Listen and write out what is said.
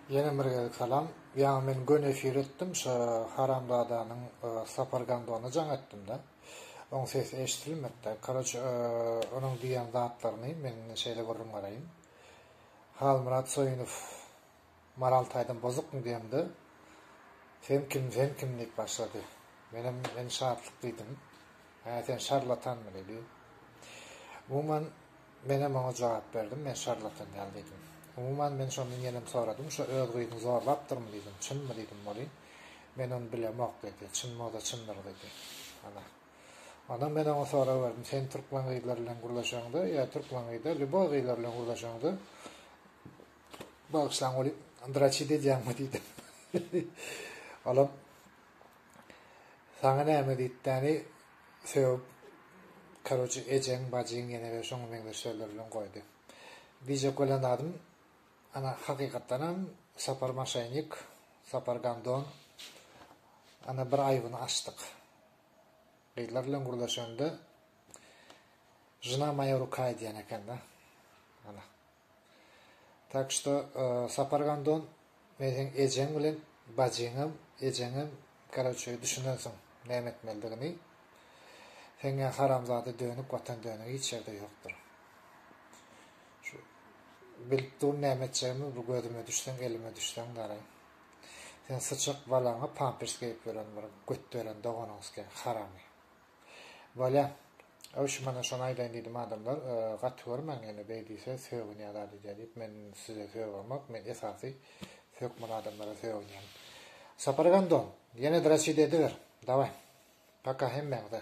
Ýene bir gezek salam. Ýaňy men göni efir etdim, şo haramzadanyň Sapar Gandona jaň etdimde. Oň sesi eşdilmedide. Karoçe onuň diýen zatlaryny men indi şeýle gürrüň beraýyn. Halmyrat Soýunow Maral taýdan bozukmy diýemde, Sen kim, sen kim diýip başlady. Menem men şatlyk diýdim. Hä sen şarlatanmy diýdi. Umuman Menem oňa jogap berdim, Men şarlatan däl diýdim. Umuman, men şondan ýenem soradym, Şo öz gyzyňy zorlapdyrmy diýdim, Çynmy diýdim, Molin? Men ony bilemok diýdi. Çyn bolsa çyndyr diýdi. Ana. Ondan men oňa sorag berdim, Sen türkmen gyzlary bilen gürleşeňde, ýa türkmen gyzlar, lýuboý gyzlar bilen gürleşeňde, bagyşlaň welin, draçit edýäňmi diýdim. Olam, Saňa näme diýipdäni, sögüp karoçe ejeň bajyň ýenede şoňa meňzeş sözler bilen goýdy. Diýjek bolýan zadym ana hakykatdanam Sapar maşenik Sapar gandon ana bir aýbyny açdyk. Gyzlar bilen gürleşende Žna moýa ruka edýän ekende. Ana. Tak şto Sapar Gandon men seň ejeň bilen bajyňam ejeňem karoçe düşünensiň näme etmelidigini seňňä haramzada dönük watan dönügi hiç ýerde ýokdur şu bilip dur näme etjegimi bu gözüme düşseň elime düşseň daraý sen syçak balaňa pampers geýip ýören bir götderen doganyňskä haramy. Bolýa. Öwşi mana şony aýdaýyn diýdim adamlar gaty görmäň ýöne beý diýse sögünýä zat edýä diýip men size sögämok men esasy hökman adamlara sögünýän. Sapar gandon ýene draçide ediber dawaý. Paka hemmäňize.